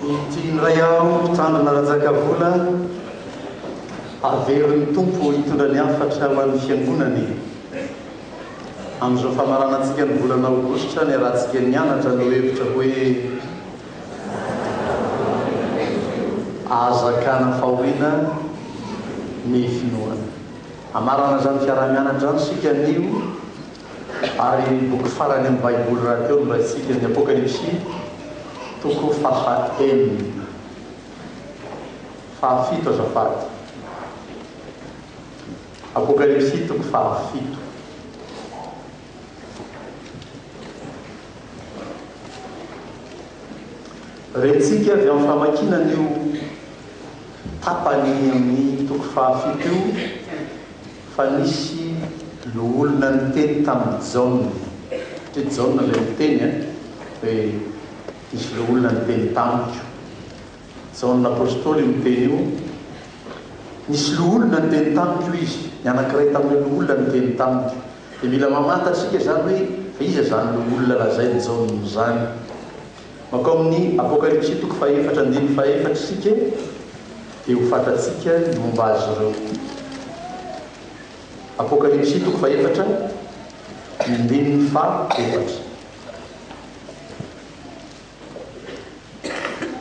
Ity indray aho mpitandrina Rajakavola havero ny Tompo hitondra ny hafatra ho an'ny fiangonana e! Amin'izao famaranantsika ny volana aogositra niarahantsika nianatra ny lohevitra hoe Aza akana fahoriana ny finoana. Hamarana izany fiaraha-mianatra izany isika anio. Ary ny boky farany amin'ny Baiboly rahateo no raisitsika, ny Apokalypsy, toko faha enina, faha fito azafady. Apokalypsy toko faha fito. Rentsika avy amin'ny famakiana an'io tapany amin'ny toko faha fito io, Fa nisy loholona niteny tamin'i Jaona, satria Jaona ilay niteny a, hoe nisy loholona niteny tamiko. Jaona Apostoly io miteny io, Nisy loholona niteny tamiko, hoy izy, ny anankiray tamin'ireo loholona niteny tamiko. Dia mila mamantatra isika izany hoe fa iza izany loholona lazain'i Jaona izany. Mankao amin'ny Apokalypsy toko fahefatra andininy fahefatra isika dia ho fantatsika ny momba azy ireo. Apokalypsy toko fahefatra ny andininy fahefatra.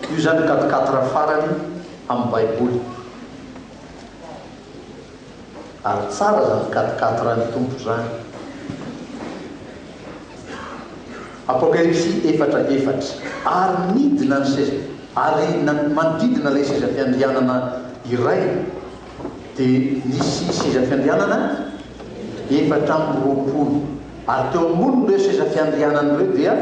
Io izany ny quatre quatre farany amin'ny Baiboly. Ary tsara zany fikatikati ra ny Tompo zany. Apocalypsy efatra efatra. Ary nidina ny seza, ary manodidina ilay seza fiandrianana iray dia nisy seza fiandrianana efatra amby roapolo, ary teo ambonin'ireo seza fiandrianana ireo dia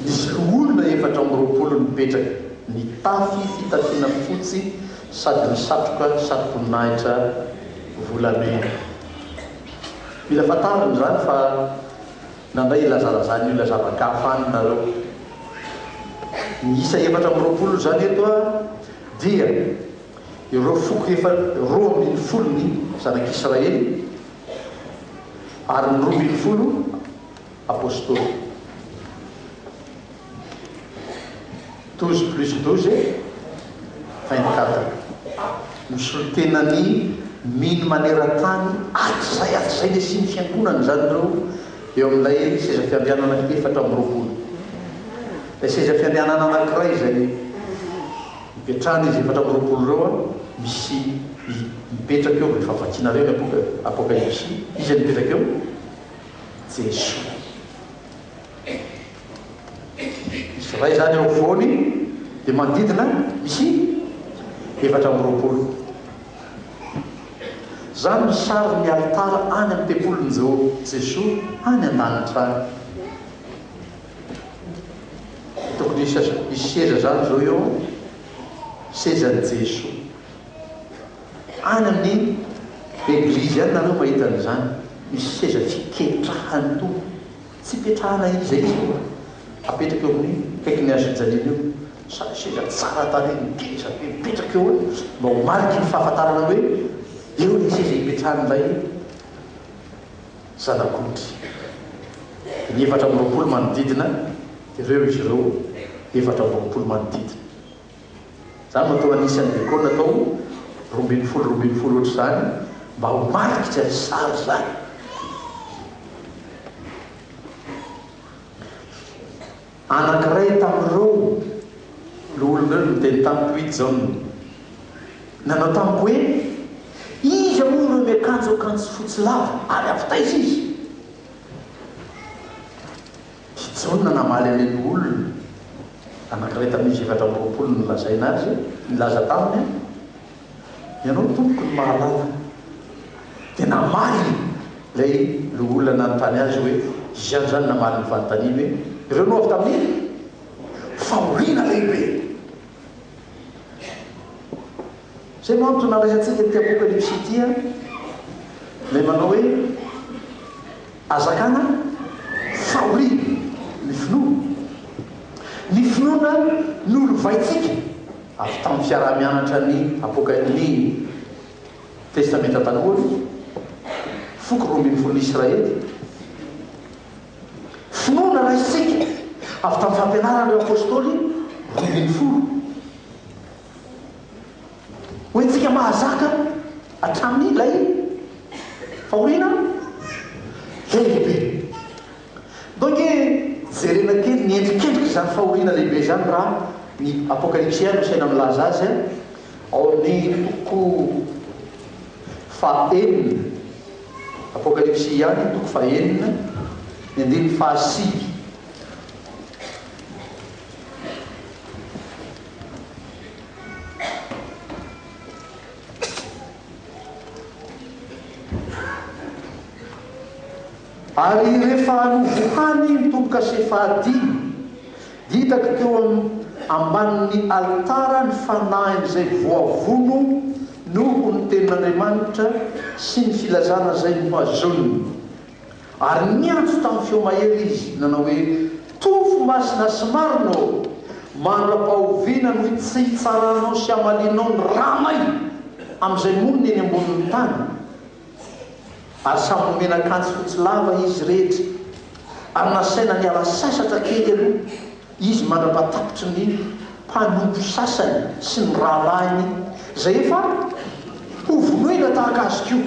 nisy loholona efatra amby roapolo nipetraka, nitafy fitafiana fotsy, sady ny satroka sarom-boninahitra volamena. Mila fantarina izany fa nandray ilazalazan'ny olona zava-gafa any nareo. Miisa efatra amby roapolo izany eto a, dia ireo foko efa roa ambin'ny folon'ny zanak'Israely ary ny roa ambin'ny folo, Apostoly. Douze plus douze, vingt quatre. Misolo tena ny mino maneran-tany hatrizay hatrizay ny hisian'ny fiangonana izany ireo eo amin'ilay seza fiandrianana efatra amby roapolo. Ilay seza fiandrianana anankiray izay ipetrahan'izy efatra amby roapolo ireo, misy mipetraka eo, efa vakinareo ny Apokalypsy, iza no mipetraka eo? Jesoa. Misy iray izany eo afovoany, dia manodidina misy efatra amby roapolo. Izany no sarin'ny alitara any amin'ny tempolin'i Jesoa any an-danitra any. Tokony hisy seza izany izao eo, sezan'i Jesoa. Any amin'ny eglizy any nareo mahita an'izany, misy seza fiketrahan'ny Tompo, tsy ipetrahana iza iza eo fa apetraka eo amin'ny akaikin'ny hazo fijaliana eo, sady seza tsara tarehy ngeza be mipetraka eo an, mba ho mariky ny fahafantarana hoe eo ilay seza ipetrahan'ilay Zanak'ondry. Dia ny efatra amby roapolo manodidina, dia ireo izy ireo efatra amby roapolo manodidina. Za vao teo anisan'ny lekôla tao roa ambin'ny folo roa ambin'ny folo ohatr'izany mba ho marikitra ny sary izany. Anankiray tamin'ireo loholonareo niteny tamiko iny izao no nanao tamiko hoe, Iza moa ireo miakanjo akanjo fotsy lava ary avy taiza izy? I Jaona namaly an'ilay loholona anankiray tamin'izy efatra amby roapolo nolazaina azy, nilaza taminy, Ianao, Tompoko, no mahalala. Dia namaly ilay loholona nanontany azy hoe, Izy ihany izany namaly ny fanontaniany hoe, Ireo no avy tamin'ny fahoriana lehibe. Izay no antony nalaisantsika ity Apokalypsy ity an! Ilay manao hoe, Hazakana fahoriana ny finoana. Ny finoana nolovaintsika avy tamin'ny fiaraha-mianatra ny Apoka-, ny Testamenta Taloha, ny foko roa ambin'ny folon'ny Israely. Finoana raisintsika avy tamin'ny fampianaran'ireo Apôstôly roa ambin'ny folo. Ho antsika mahazaka hatramin'ny ilay fahoriana lehibe. Ndao ange jerena kely ny endrikendrik'izany fahoriana lehibe izany raha ny Apokalypsy no saina milaza azy ao amin'ny toko faha enina. Apokalypsy ihany toko faha enina ny andininy faha sivy. Ary rehefa novohany ny tombo-kase fahadimy, dia hitako teo ambanin'ny alitara ny fanahin'izay voavono noho ny tenin'Andriamanitra sy ny filazana izay nohazoniny. Ary niantso tamin'ny feo mahery izy, nanao hoe, Tofo masina sy marina ô! Mandra-pahoviana no tsy hitsaranao sy hamalianao ny ranay amin'izay monina eny ambonin'ny tany? Ary samy nomena akanjo fotsy lava izy rehetra, ary nasaina niala sasatra kely aloha izy mandra-patapitry ny mpanompo sasany sy ny rahalahiny izay efa hovonoina tahaka azy koa.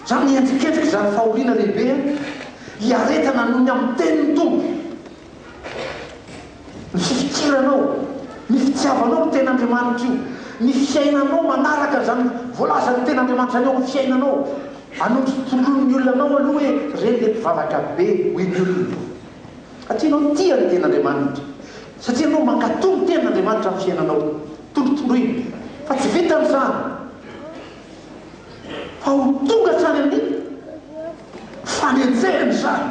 Izany hihetsiketsika izany fahoriana lehibe hiaretana noho ny amin'ny tenin'ny Tompo. Ny fifikiranao, ny fitiavanao ny Tenin'Andriamanitra io, ny fiainanao manaraka izany voalazan'ny Tenin'Andriamanitra izany eo amin'ny fiainanao. Anondrotoloin'ny olona anao aloha hoe, ireny dia mpivavaka be, hoy ny olona. Satria ianao no tia ny Tenin'Andriamanitra. Satria ianao mankatò ny Tenin'Andriamanitra amin'ny fiainanao. Tolotoloina. Fa tsy vitan'ny izany. Fa ho tonga hatrany amin'ny fanenjehana izany.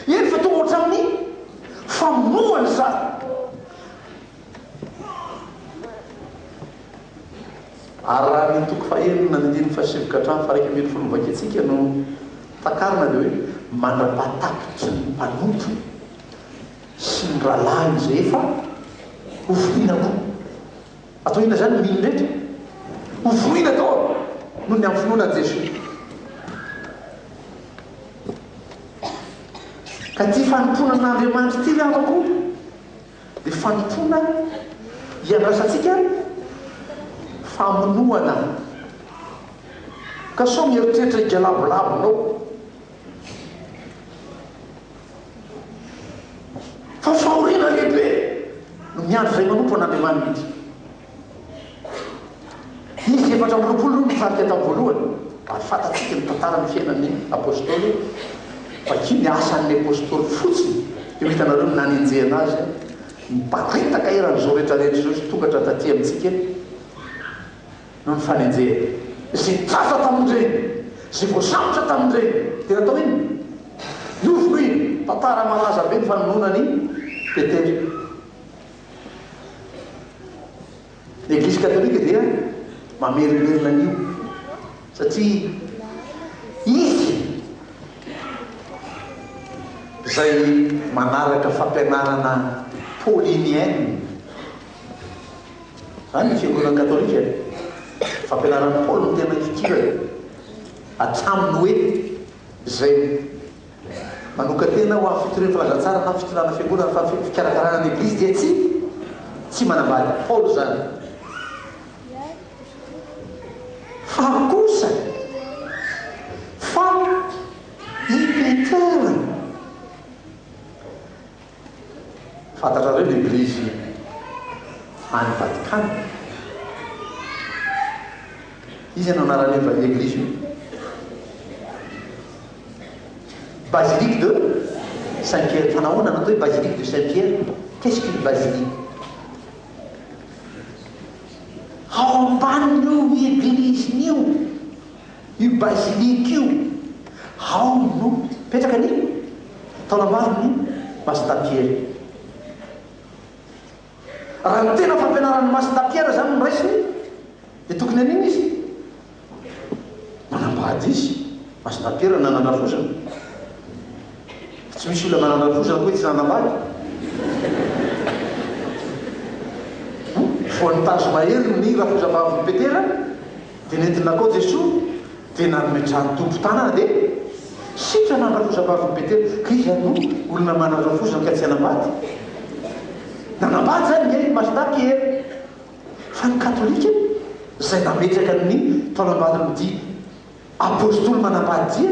Eny fa tonga hatramin'ny famonoana izany. Ary raha ny toko fahenina andininy fahasivy ka hatramin'ny faha-iraika ambin'ny folo no vakintsika no takarina dia hoe, mandra-pahatakitry ny mpanompo sy ny rahalahiny izay efa hoforoina koa. Atao inona izany ny mino rehetra? Hoforoina daholo noho ny amin'ny finoana an'i Jesoa. Ka ity fanompoana an'Andriamanitra ity namako. Dia fanompoana iandrasantsika famonoana. Ka sao mieritreritra higalabolabonao fa fahoriana lehibe no miandry izay manompo an'Andriamanitra. Izy efatra amby roapolo no nitarika tamin'ny voalohany, ary fantatsika ny tantaran'ny fiainan'ny Apôstôly fa ity ny asan'ny Apôstôly fotsiny, io hitanareo ny nanenjehana azy, miparitaka eran'izao rehetra rehetra izao izy tonga hatraty aty amintsika eto noho ny fanenjehana. Izay tratra tamin'ireny, izay voasambotra tamin'ireny dia natao inona? Novonoina, tantara malaza be ny fanononan'i Petera. Ny Eglizy Katolika dia mamerimerina an'io satria izy izay manaraka fampianarana paulinienne. Izany ny Fiangonana Katolika e. Fampianaran'i Paoly no tena idirany hatramin'ny hoe izay Manokan-tena ho amin'ny fitorian'ny filazantsara na fitondrana fiangonana fa ny fikarakarana ny Eglizy dia tsy tsy manambady. Paolo izany. Fa kosa fa i Petera. Fantatrareo ny Eglizy any Vatikana? Iza no anaraleva io Eglizy io? Basilique de Saint Pierre, fa nahoana natao hoe Basilique de Saint Pierre? Qu'est-ce qu'une basilique? Ao ambanin'io Eglizin'io Io basilique io ao no mipetraka ny taolambaron'i Masina Piera. Raha ny tena fampianaran'i Masina Piera izany no raisiny dia tokony hanina izy? Manambady izy, Masina Piera nanan-drafozana. Tsy misy olona nanan-drafozana koa tsy nanambady. Voan'ny tazo mahery ny rafozam-bavin'i Petera. Dia nentin'i Lakao Jesoa dia nanome trano tompo tanana dia sitrana an-dRafozambavin'i Betela ka izy ary no olona mana an-dRafoza ka tsy hanambady. Nanambady izany ange i Mastà Piera fa ny Katolika izay nametraka ny taonambadiny dia Apostoly manambady dia.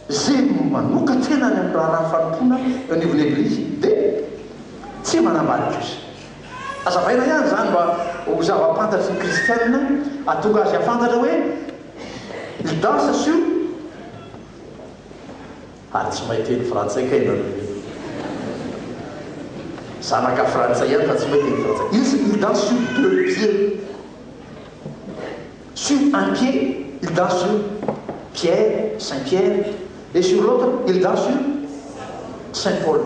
izay manokan-tena any amin'ny raharaha fanompoana eo anivon'ny Eglizy dia tsy manambady kosa. Azavaina ihany izany mba ho zava-pantatry ny Kristianina hahatonga azy hahafantatra hoe Ydas sy o. Ary tsy mahay teny frantsay kay nareo e! Zanaka frantsay ihany fa tsy mahay teny frantsay. Izy Ydas sy o deux pieds. Sur un pied, il danse sur Pierre, Saint Pierre, et sur l'autre, il danse sur Saint Paul.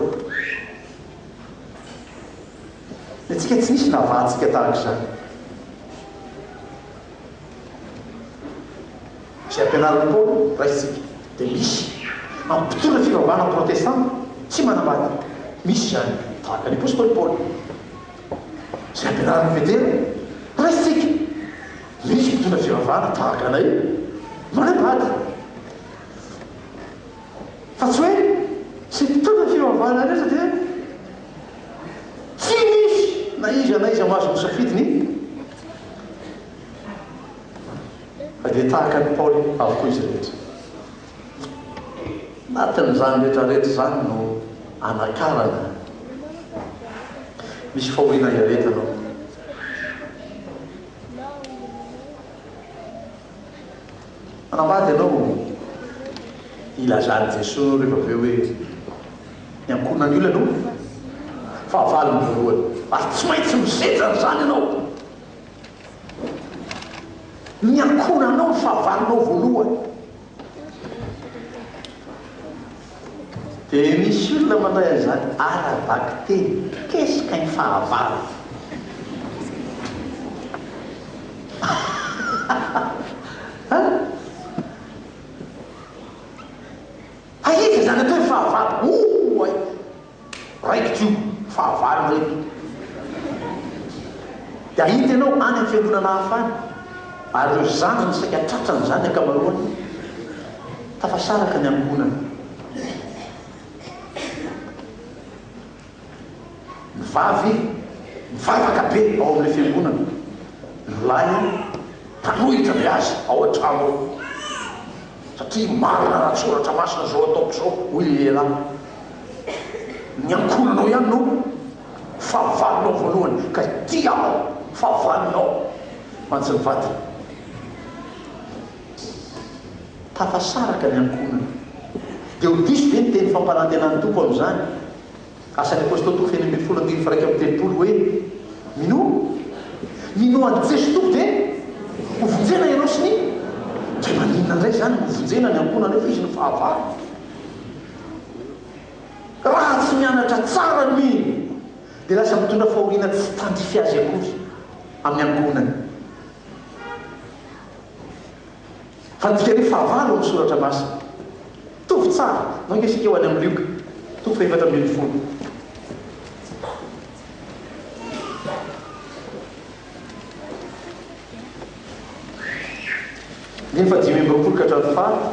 Ny antsika tsy nisy navahantsika tahaka izany. Izay ampianarin'i Paoly, raisintsika, dia misy amin'ny mpitondra fivavahana protestanta tsy manambady. Misy izany, tahaka ny apostoly Paoly. izay ampianarina avy an-dela. Raisintsika, misy mpitondra fivavahana tahaka anay manambady, fa tsy hoe izay mpitondra fivavahana rehetra dia tsy misy na iza na iza mahazo misafidy ny fa dia tahaka an'i Paoly avokoa izy rehetra. Anatin'izany retraretra izany no anakarana misy fahoriana iaretana ao. Manambady ianao, ilazan'i Jesoa rehefa avy eo hoe ny ankohonan'ny olona no fahavalony voalohany, ary tsy maintsy misedra an'izany ianao. Ny ankohonanao no fahavalonao voalohany. Dia misy olona mandray an'izany ara-bakiteny, qu'est-ce qu'un fahavalo? Aiza izany atao hoe fahavalo? Oay! Raikitra io, fahavalo ireto. Dia hahita ianao any amin'ny fiangonana hafa any, ary ireo zanany saika tratran'izany ny ankamaroany, tafasaraka ny ankohonana. Ny vavy mivavaka be ao amin'ilay fiangonana, ny lahy mpanohitra be azy ao an-trano ao. satria marina raha ny soratra masina izao ataoko izao hoy ilay lehilahy, ny ankohonanao ihany no fahavalonao voalohany ka ity aho fahavalonao mantsy ny vadiny tafasaraka ny ankohonana dia ho diso ve ny teny fampanantenan'ny Tompo amin'izany? Asan'ny Apôstôly toko fahefatra ambin'ny folo andininy faha-iraika amby telopolo hoe, Minoa? Minoa an'i Jeso Tompo dia hovonjena ianao sy ny. Dia maninona indray izany no hovonjena ny ankohonanareo fa izy no fahavalo? Raha tsy mianatra tsara ny mino dia lasa mitondra fahoriana tsy tandrify azy akory amin'ny ankohonany. Fa midika hoe fahavalo amin'ny Soratra Masina. Mitovy tsara. Izao ange isika ho any amin'ny Lioka, toko fahefatra ambin'ny folo. Andininy fahadimy amby roapolo ka hatramin'ny faha.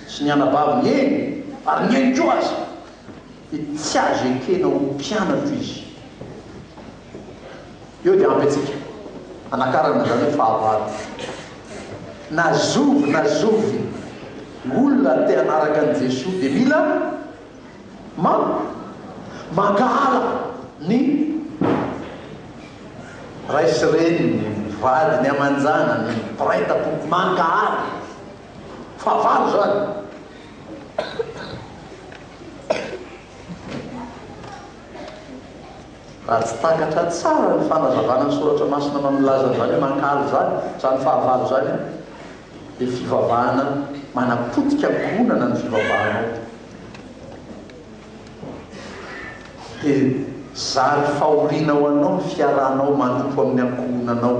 sy ny anabaviny eny ary nihaino koa aza dia tsy azo ekena ho mpianatro izy eo dia ampy antsika hanakarana izany hoe fahavalo na zovy na zovy ny olona te hanaraka an'i Jesoa dia mila ma mankahala ny ray sy reniny, ny vadiny aman-janany, ny mpiray tampo, mankahala. Fahavalo izany. Raha tsy takatra tsara ny fanazavana ny soratra masina manao ny lazany izany hoe mankahala izany, izany fahavalo izany, dia fivavahana manapotika ankohonana ny fivavahanao. Dia zary fahoriana ho anao ny fiarahanao manompo amin'ny ankohonanao.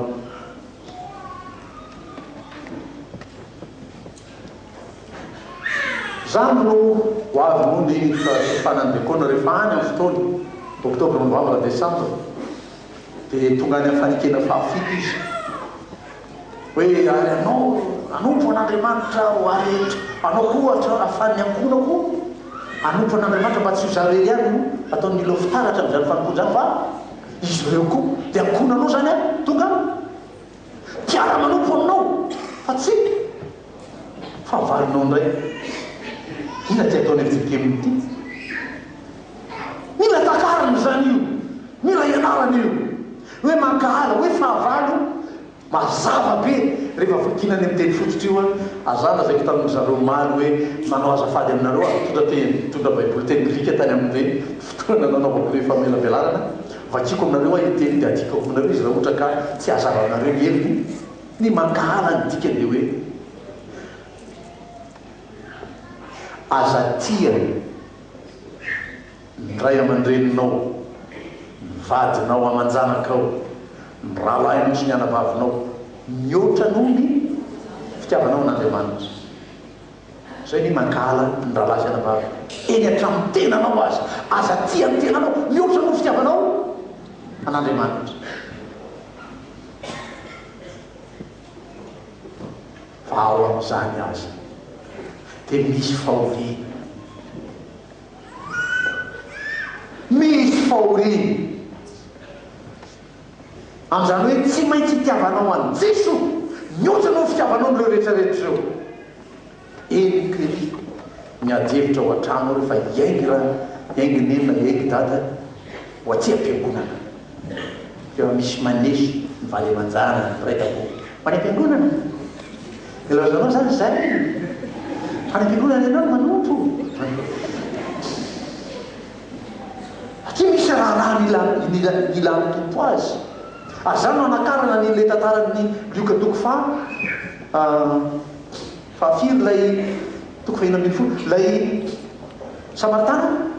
Izany no ho avy noho ny fahasifanan'ny Diakona rehefa any amin'ny fotoana, Oktobra, Novambra, Desambra, dia tonga any amin'ny fanekena fahafito izy hoe, Ary anao, anompo an'Andriamanitra aho, ary anao koa ohatra ahafahan'ny ankohonako hanompo an'Andriamanitra mba tsy ho izaho irery ihany no ataon'ny milo fitaratra amin'izany fanompoana izany fa Izy ireo koa dia akona anao izany an! Tonga an! Mpiara-manompo aminao fa tsy. Fahavalonao indray. Inona ity ataon'i Ezekielina ity? Mila takarina izany io, mila ianarana io hoe mankahala, hoe fahavalo. Mazava be rehefa vakina any amin'ny teny fototra io an! Aza lazaiko tamin-dry zareo omaly hoe nanao azafady aminareo aho nitondra teny, nitondra baiboly teny grika tany amin'ireny fotoana nanaovako ilay famelabelarana. Vakiko aminareo aho io teny dia adikako aminareo izy raha ohatra ka tsy hahazavanareo ny heviny. Ny mankahala ny dikany dia hoe, Aza tia. Ny ray aman-dreninao, ny vadinao aman-janakao, ny rahalahinao sy ny anabavinao mihoatra noho ny fitiavanao an'Andriamanitra. Izay ny mankahala ny rahalahy sy anabavy eny an-tranon'ny tenanao aza. Aza tia ny tenanao mihoatra noho ny fitiavanao an'Andriamanitra. Fa ao amin'izany aza dia misy fahoriana. Misy fahoriana. Amin'izany hoe tsy maintsy hitiavanao an'i Jeso mihoatra noho ny fitiavanao an'ireo rehetra rehetra ireo. Henoko ery miady hevitra ao an-trano ao rehefa hiainga hiainga neny na hiainga dada ho aty am-piangonana. Tena misy maneso ny vady aman-janany ny mpiray tampo. Ho any am-piangonana? Dia lazanao izany izay. Ho any am-piangonana ianao no manompo. Satria misy raharaha mila mila ilan'ny Tompo azy. Ary izany no anakarana an'ilay tantaran'ny Lioka toko faha Fahafiry ilay toko fahiny ambin'ny folo? Ilay Samaritana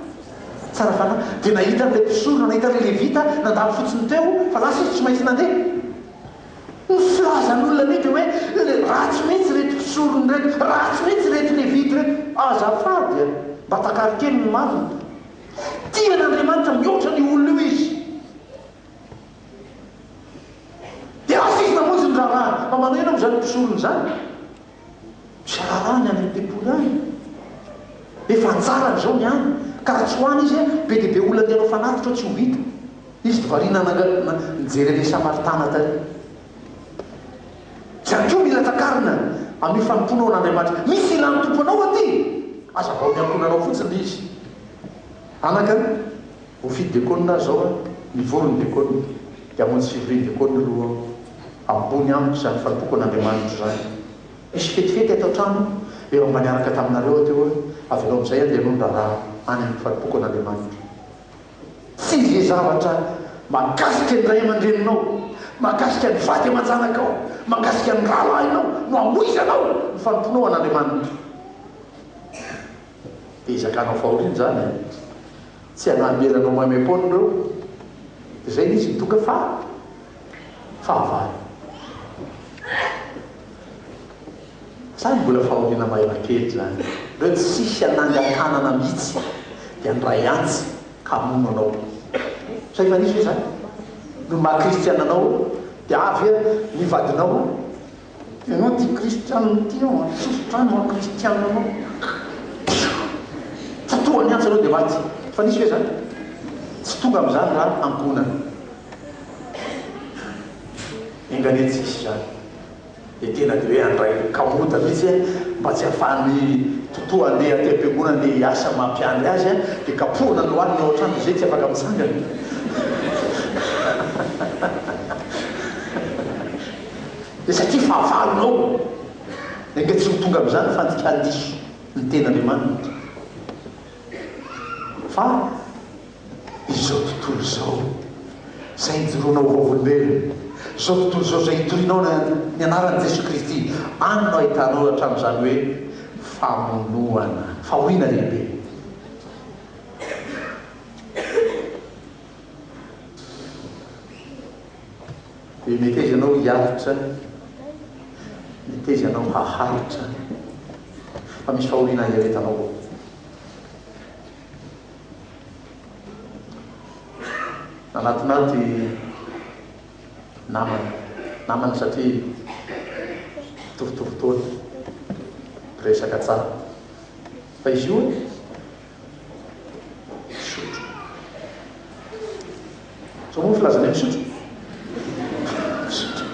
tsara fanahy dia nahita an'ilay mpisorona, nahita an'ilay Levita nandalo fotsiny teo fa lasa izy tsy maintsy nandeha. Ny filazan'olona anio dia hoe, le ratsy mihitsy ireto mpisorona ireto, ratsy mihitsy ireto Levita ireto. Azafady e! Mba takary kely ny marina. Tia an'Andriamanitra mihoatra an'io olona io izy. Dia avy iza monja ny raharahany? Fa manao inona moa izany mpisorona izany? Misy raharahany any amin'ny tempoly any. Efa anjarany izao ny any, ka raha tsy ho any izy, be dia be olona te hanao fanatitra ao tsy ho vita. Izy dia variana nangalana, nijery an'ilay Samaritana tary. Izany koa mila takarina amin'io fanompoanao an'Andriamanitra. Misy ilan'ny Tompo anao aty, aza vao miankohonanao fotsiny ilay izy. Anaka an! Voafidy Diakona aho izao an! Nivory ny Diakona, dia hamonjy fivorian-Diakona aloha aho. Ambony amiko izany fahatoako an'Andriamanitra izany. Hisy fetifety ato an-trano, efa mba niaraka taminareo aho teo an! Avelao amin'izay an, dia aloha ny raharaha any amin'ny fahatoako an'Andriamanitra. Tsy izay zavatra mahakasika ny ray aman-dreninao, mahakasika ny vady aman-janakao, mahakasika ny rahalahinao no hamoizanao ny fanompoanao an'Andriamanitra. Dia zakanao fahoriana izany e! Tsy hanambela anao maimaim-poana ireo. Dia izay ilay izy midonga fa fahavalo. Izany mbola fahoriana mahery kely izany. Ireo tsisy hanangan-tanana mihitsy dia handray antsy ka hamono anao. Sa efa nisy ve izany? Ny maha kristiana anao dia avy ny vadinao. Ianao tia kristianina io tia anao an, sosotra ny maha kristianina anao. Tsy tonga ny antso ianao dia maty. Efa nisy ve izany? Tsy tonga amin'izany raha ankohonana. Enga anie tsy hisy izany. Dia tena dia hoe handray kamoda mihitsy an, mba tsy ahafahan'ny Totoa handeha aty am-piangonana handeha hiasa amin'ny maha mpiandry azy an, dia kapohina ny lohaliny ao an-trano dia izay tsy afaka mitsangana. dia satria fahavalonao, enga tsy ho tonga amin'izany fandikan diso ny tenin'Andriamanitra fa izao tontolo izao izay ijoroanao ho vavolombelona, izao tontolo izao izay itorianao ny anaran'i Jesoa Kristy, any no ahitanao hatramin'izany hoe famonoana, fahoriana lehibe. Dia meteza anao hiaritra, meteza anao haharitra, fa misy fahoriana hiaretanao ao. Nanatinaty namana, namana satria mitovitovy taona, resaka tsara. Fa izy io Misotro. Sao moa filazanay misotro? Misotro.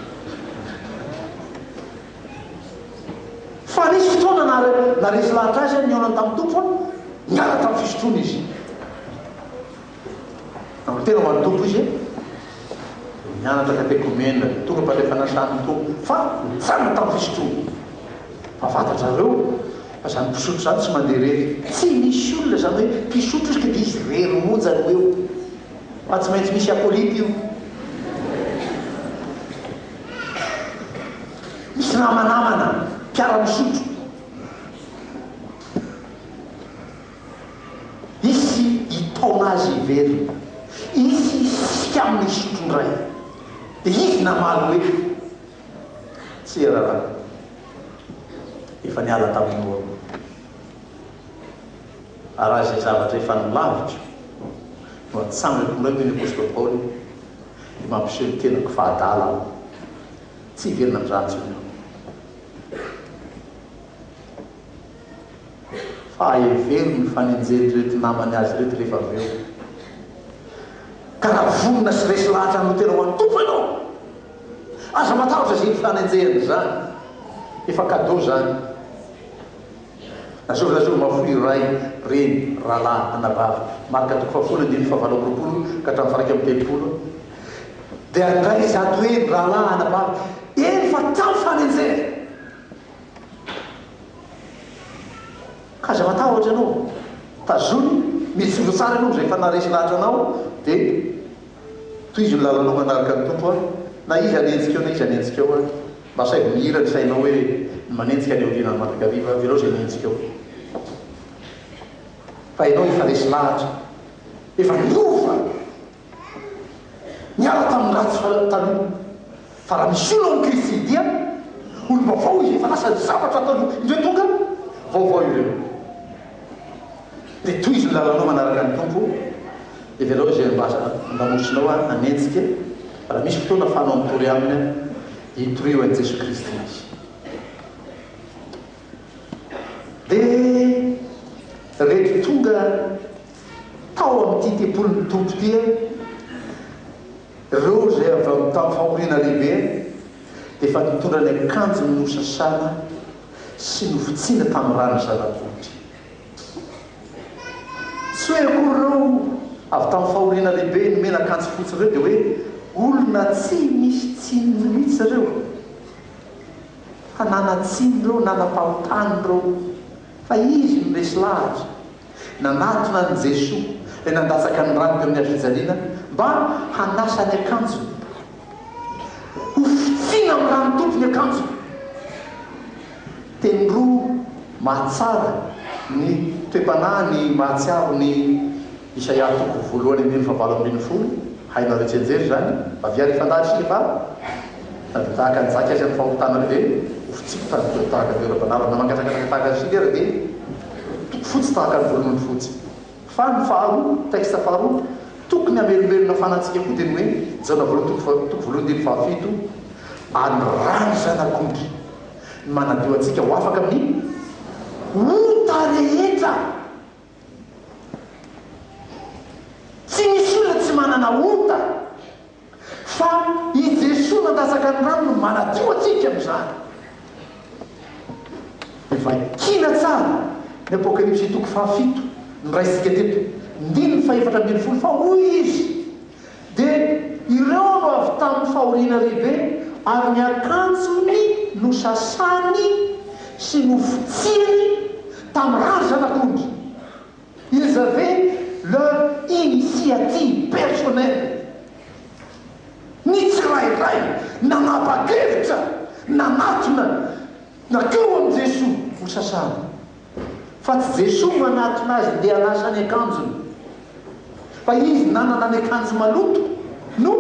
Fa nisy fotoana naharesy lahatra azy ny olona tamin'ny Tompo fa niala tamin'ny fisotroana izy. Andro tena ho an'ny Tompo izy e! Nianatra katekomena, tonga am-pandrefana sahan'ny Tompo, fa nitsangana tamin'ny fisotroana. Fa fantatra reo fa zany mpisotro zany tsy mandeha rery. Tsy misy olona zany hoe mpisotro izy ka dia izy rery monja no eo. Fa tsy maintsy misy acolyte io. Misy namanamana mpiara-misotro. Hisy hitaona azy hiverina. Hisy hisisika aminy hisotro indray. Dia izy namaly hoe, Tsia rahalahy, efa niala taminao aho. Ary raha izay zavatra efa nilaviko no atsangako indray, hoy ny apostoly Paoly, dia mampiseho ny tenako fa adala aho. Tsy hiverina amin'izany intsony aho. fa hevero ny fanenjehan'ireto namany azy ireto rehefa avy eo. Ka raha vonona sy resy lahatra amin'ny tena ho an'ny Tompo ianao, aza matahotra izay fanenjehana izany, efa cadeau izany. Lazao lazao mahafoy ray, reny, rahalahy, anabavy. Marka toko fahafolo andininy fahavalo amby roapolo ka hatramin'ny faharaika amby telopolo. Dia andraiza ato eny, rahalahy, anabavy, eny fa tamin'ny fanenjehana. Aza matahotra ianao, tazony, mijoro tsara ianao rehefa naharesy lahatra anao dia tohizo ny lalanao manaraka ny Tompo a! Na iza hanenjika eo na iza hanenjika eo ary, mba asaivo mihira ny sainao hoe ny manenjika any aoriana any mandrakariva ary jereo izay mienjika eo fa ianao efa resy lahatra, efa niova! Niala tamin'ny ratsy fanahy taloha. Fa raha misy olona ao amin'i Kristy dia dia olom-baovao izy, efa lasa ny zavatra taloha, indreo tonga vaovao ireo. Dia tohizo ny lalanao manaraka ny Tompo, heverao izay ambamosinao ary hanenjika e, fa raha misy fotoana afahanao mitory aminy ary dia hitorio an'i Jesoa Kristy izy. Dia reto tonga tao amin'ity tempolin'ny Tompo ity an, ireo izay avy amin'ny tamin'ny fahoriana lehibe an, dia efa nitondra ny akanjony nosasana sy novitsiana tamin'ny ran'ny zana-bohitra. Tsy hoe akory ireo avy tamin'ny fahoriana lehibe nomena akanjo fotsy ireo dia hoe olona tsy nisy tsiny mihitsy ireo, fa nanan-tsiny ireo, nanam-pahotana ireo. Fa izy no resy lahatra. Nanatona an'i Jesoa ilay nandatsaka ny rano teo amin'ny hazofijaliana mba hanasa ny akanjony. Hofitsiana amin'ny rano dobo ny akanjoko. Teny roa mahatsara ny toe-panahy ny mahatsiaro ny. Isaia toko voalohany andininy fahavalo ambin'ny folo, Hainareo hitsianjery izany? Fa ve halefa an-dahatra isika va? Na dia tahaka ny jaka izy amin'ny fahotana ary ve ho fitsipika ny teo tahaka ny teo ara-panahirana? Na mangatsakatsaka tahaka ny sily ary ve toko fotsy tahaka ny volon'ondry fotsy? Fa ny faharoa, texte faharoa, tokony hamelombelona fanahy antsika koa dia ny hoe, Jaona voalohany toko faha, toko voalohany andininy fahafito, Ary ny ràny Zanak'ondry no manadio antsika ho afaka amin'ny ota rehetra. Tsy misy olona tsy manana ota, fa i Jesoa nandatsaka ny rany no manadio antsika amin'izany. Dia vakina tsara ny Apokalypsy toko fahafito noraisintsika teto, ndininy fahefatra ambin'ny folo, fa hoy Izy, Dia ireo no avy tamin'ny fahoriana lehibe, ary ny akanjony nosasany sy nofotsiany tamin'ny razana tondro. Ils avaient leur initiative personnelle, ny tsirairay nanapa-kevitra nanatona nankeo amin'i Jesoa hosasana. fa tsy Jesoa no nanatona azy ndeha hanasa ny akanjony fa izy nanana ny akanjo maloto no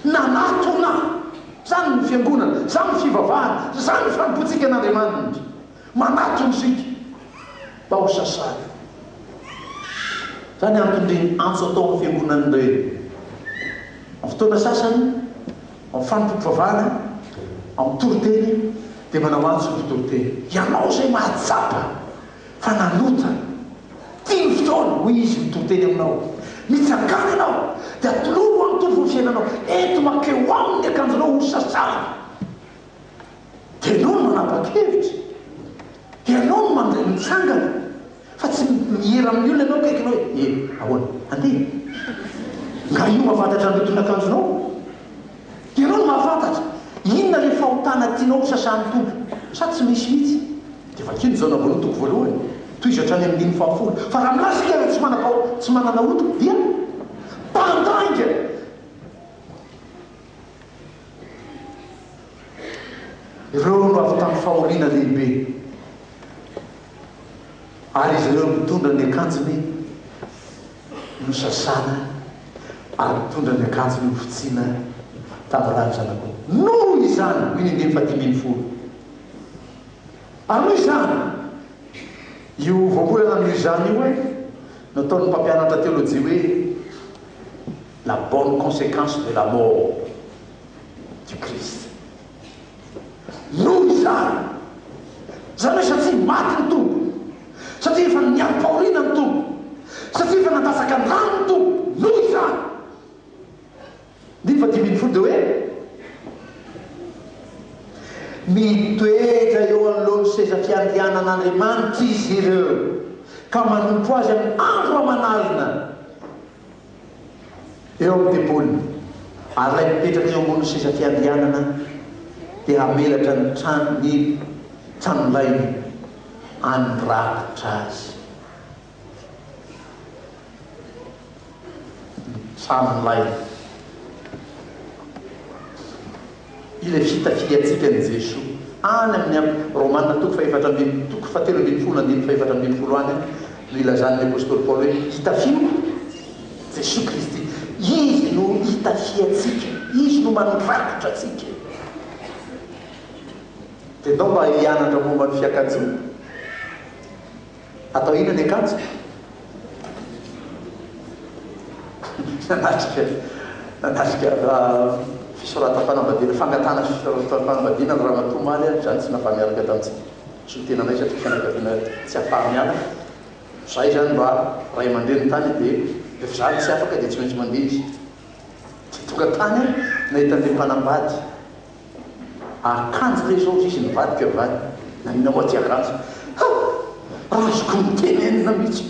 nanatona zany ny fiangonana zany ny fivavahana zany ny fanompoantsika an'Andriamanitra manatona isika mba ho sasany zany antony reny antso atao amin'ny fiangonana ireny amin'ny fotoana sasany Ao amin'ny fanompoam-pivavahana, ao amin'ny toriteny, dia manao antso ny mpitoriteny, Ianao izay mahatsapa fa nanota, ity ny fotoana, hoy izy mitoriteny aminao, mitsangàna ianao, dia atolory ho an'ny Tompo ny fiainanao, ento mankeo Aminy ny akanjonao hosasàna. Dia ianao no manapa-kevitra, dia ianao no mandray ny tsangana, fa tsy miera amin'ny olona ianao akaikinao hoe, e, ahoana, andeha e! Nga io mahafantatra ny loton'akanjonao? Dia ianao no mahafantatra inona ilay fahotana tianao ho sasan'ny Tompo, sa tsy misy mihitsy? Dia vakio ny Jaona voalohany toko voalohany, tohizo hatrany amin'ny andininy fahafolo. Fa raha milaza isika fa tsy manam-paho, tsy manana ota, dia mpandainga. Ireo no avy tamin'ny fahoriana lehibe, ary izy ireo mitondra ny akanjony nosasana ary mitondra ny akanjony hofotsiana tamin'ny rà ny zanak'omby. Noho izany, hoy ny andininy fahadimy ambin'ny folo, ary noho izany, io voambolana amin'io izany io hoe, nataon'ny mpampianatra teolojia hoe, La bonne consequence de la mort du Christ noho izany, izany hoe satria maty ny Tompo, satria efa niarim-pahoriana ny Tompo, satria efa nandatsaka ny rany ny Tompo, noho izany, Andininy faha dimy ambin'ny folo dia hoe, Mitoetra eo anoloan'ny seza fiandrianan'Andriamanitra izy ireo ka manompo Azy amin'ny andro aman'alina. eo amin'ny tempoliny, ary ilay mipetraka eo ambonin'ny seza fiandrianana dia hamelatra ny trano, ny tranolainy handrakotra azy. Ny tranolainy. Ilay vita filiantsika an'i Jesoa any amin'ny am. Romana toko fahefatra ambin'ny toko fahatelo ambin'ny folo andininy fahefatra ambin'ny folo any no ilazan'ny apostoly Paoly hoe itafiako Jesoa Kristy. Izy no itafiantsika, Izy no mandrakotra antsika. Dia ndao mba hianatra momba ny fiakanjoana. Atao inona ny akanjo? Nanatrika nanatrika fisoratam-panambadiana, fangatahana fisoratam-panambadiana ny ramatoa omaly ary izany tsy nafa-niaraka tamintsika. Tsy ho tenanay satria fianakaviana tsy afa-miala. Izaho izany mba ray aman-dreny tany dia rehefa zary tsy afaka dia tsy maintsy mandeha izy. Tonga tany aho nahita an'ilay mpanambady. Ary kanjo ve izao ry izy nivadika va naniana ho aty akanjo? Ha! Raha azoko notenenina mihitsy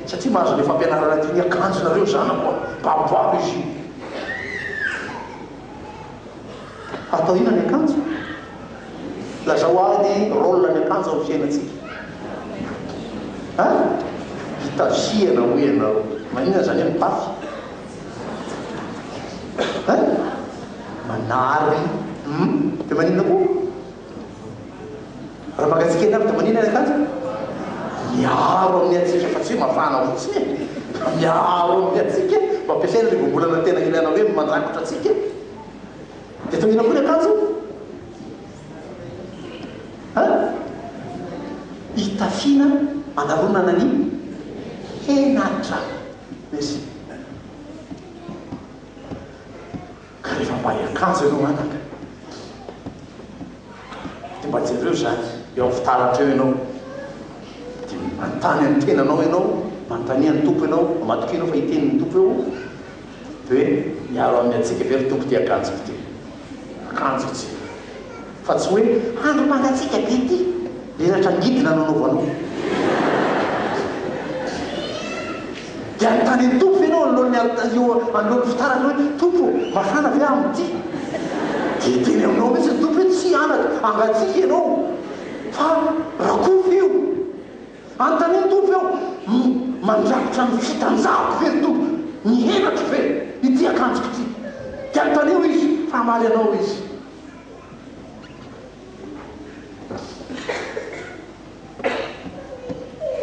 satria mahazo ilay fampianarana tiany hakanjonareo zanako an! Babo-babo izy io! Atao inona ny akanjo? Lazao ahy ny rôle ny akanjo amin'ny fiainantsika? Ha! Hitazihana hoy ianareo! Maninona izany hoe mibafy? Hein? Manary. Hum? Dia maninona koa? Raha mangatsiaka ianareo dia maninona ny akanjo? Miaro amin'ny hatsiaka fa tsy hoe mafana fotsiny e. Miaro amin'ny hatsiaka e. Mba ampiasaina ilay voambolana tena ilaina hoe mandrakotra antsika e. Dia atao inona koa ny akanjo? Hein? Hitafiana hanaronana ny henatra. Be sy mihinana. Ka rehefa mba hiakanjo ianao anaka, dia mba jereo izany eo amin'ny fitaratra eo ianao, dia manontany ny tenanao ianao, manontania ny Tompo ianao, matokia ianao fa hiteny ny Tompo eo, dia hoe, miaro amin'ny hatsiaka ve ry Tompo ity akanjoko ity? akanjo hijery fa tsy hoe andro mangatsiaka be ity menatra midina no anaovanao dia anontany an'i Tompo ve ianao anoloan'ny anoloan'ny fitaratra hoe Tompo mafana ve aminy ity dia hiteny aminao mihitsy ny Tompo hoe tsia anaka mangatsiaka ianao fa rakofy io Anontaniany Tompo eo no mandrakotra ny fitanjahako ve ry Tompo? Ny henatro ve? Ity akanjoko ity? Dia anontanio Izy fa hamaly anao Izy.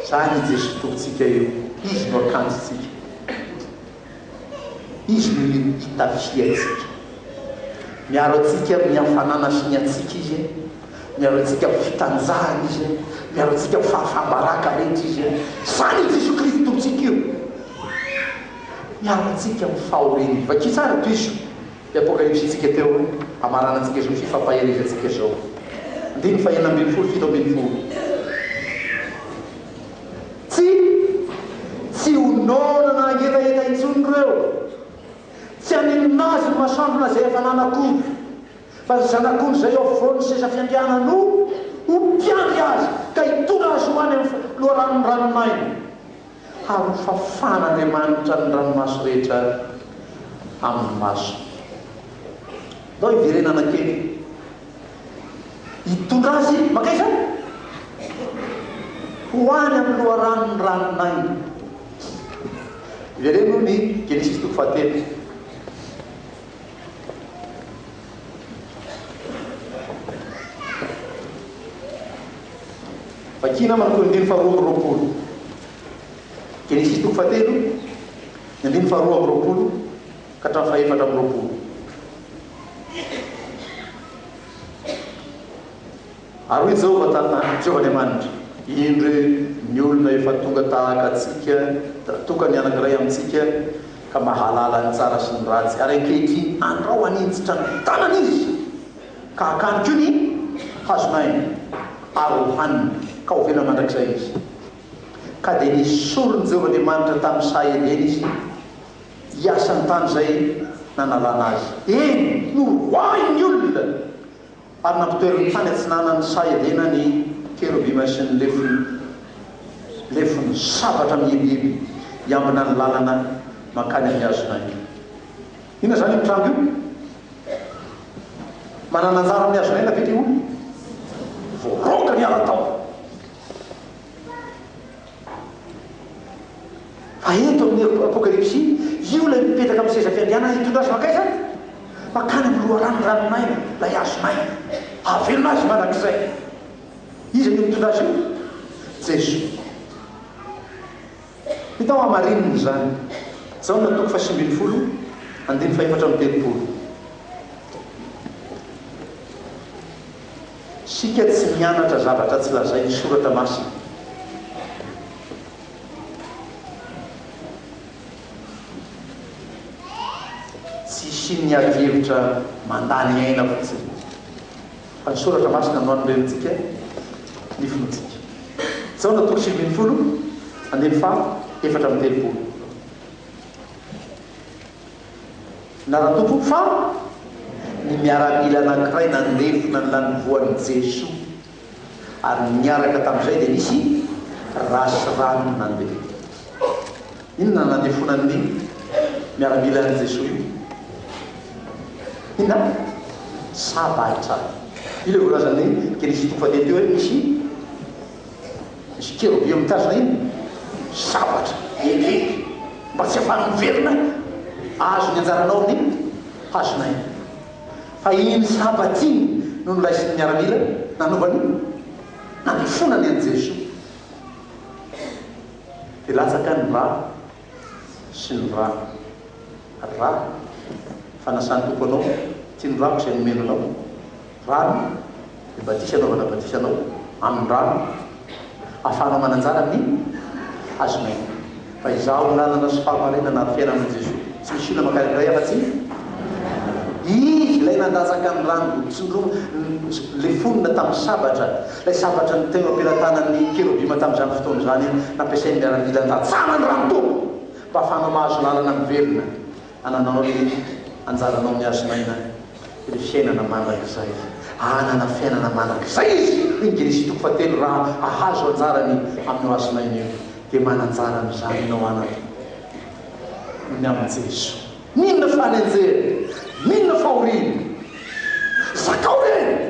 Izany i Jesoa Tompontsika io, Izy no akanjontsika. Izy no itafiantsika. Miaro antsika amin'ny hafanana sy ny hatsiaka Izy e. Miaro antsika amin'ny fitanjahany Izy e. Miaro antsika amin'ny fahafam-baraka rehetra Izy e. Izany io Jesoa Kristy Tompontsika io. Miaro antsika amin'ny fahorian'ny. Vakio tsara tohizo. Ity Apokalypsy ntsika teo an, hamarana antsika izao sy fampahereza antsika izao. Andininy faha enina ambin'ny folo, fito ambin'ny folo. Tsy, tsy ho naonana hangetaheta intsony ireo. Tsy haninona azy ny masoandrona izay efa nanak'ondry. Fa ny zanak'ondry izay eo afovoan'ny seza fiandrianany no ho mpiandry azy ka hitondra azy ho any amin'ny loharanon'ny ranomaina. Ary fafan'Andriamanitra ny ranomaso rehetra amin'ny masony. Ndao hiverenana kely. Hitondra azy mankaiza? Ho any amin'ny loharanon'ny ranon'aina. Ivereno ny Genesisy toko fahatelo. Vakina aminy toko andiny faharoa amby roapolo. Genesisy toko fahatelo, ny andiny faharoa amby roapolo ka hatramin'ny fahefatra amby roapolo. Ary hoy Jehovah tamin'ahy, Jehovah Andriamanitra, Indro ny olona efa tonga tahaka antsika, tokany anankiray amintsika, ka mahalala ny tsara sy ny ratsy, ary ankehitriny andrao haninjitra ny tanany izy, ka hakany koa ny hazon'aina, ary hohaniny, ka ho velona mandrakizay izy. Ka dia nesorin'i Jehovah Andriamanitra tamin'ny saha Edena izy, hiasa ny tany izay nanalana azy, eny, noroahiny ny olona. Ary nampitoeriny tany atsinanan'ny saha Edena ny kerobima sy ny lefony, lefony sabatra mihibihiby hiambina ny lalana mankany amin'ny hazo nainty. Inona izany io trano io? Manana anjara amin'ny hazon'aina ve ilay olona? Voaroaka ny ara-taona. Fa eto amin'ny Apokalypsy, io ilay mipetraka amin'ny seza fiandrianana hitondra azy mankaiza? Mankany amin'ny loharanon'ny ranon'aina ilay hazon'aina. Hahavelona azy mandrakizay. Iza no mitondra azy eo? Jeso. Hita ao hamarinina izany. Jaona toko fahasivy ambin'ny folo, andininy fahefatra amby telopolo. Isika tsy mianatra zavatra tsy lazain'ny Soratra Masina. Tsy isian'ny adihevitra mandany aina fotsiny, fa ny Soratra Masina no anorentsika ny fontsika. Jaona toko sivy ambin'ny folo, andininy faha efatra amby telopolo. Na raha tokony fa ny miaramila anankiray nandefona ny lanivoan'i Jeso, ary niaraka tamin'izay dia nisy race rano nandeha. Inona no nandefonan'ny miaramila an'i Jeso io? Inona? Sabatra. Io ilay voalazan'ny Genesisy toko fahatelo teo hoe misy. Misy keroby mitazona iny zavatra lehibe mba tsy afahany miverina ahazo ny anjaranao ny hazona iny. Fa iny sabata iny no noraisin'ny miaramila nanova ny nandefonany an'i Jesoa. Dia latsaka ny rà. sy ny rano. Ra, Fanasan'ny Tompo anao, tian'Rano izay nomena anao. Rano, Ny Badisa anaovana badisa anao amin'ny rano, ahafahanao mananjara ny hazonaina. Fa Izaho no lalana sy fahamarinana ary fiainana hoy Jesoa. Tsy misy olona mankany amin'Ray afa-tsy ny Izy. Ilay nandatsaka ny rano, notsindromina, ilay fonina tamin'ny sabatra, Ilay sabatra no teo am-pelatanan'ny kerobima tamin'izany fotoana izany, nampiasain'ny miaramila nilatsahanany raha nitoby, mba hahafahanao mahazo lalana miverina hananao ny anjaranao mihazo maina ny fiainana mandrakizay. Hanana fiainana mandrakizay izy, hoy ny Genesy toko fahatelo, raha hahazo anjarany amin'io hazo maina io. Dia mana-anjara amin'izany ianao anaka noho ny amin'i Jeso. Mino ny fanenjehany, mino ny fahoriany. Zakao ireny!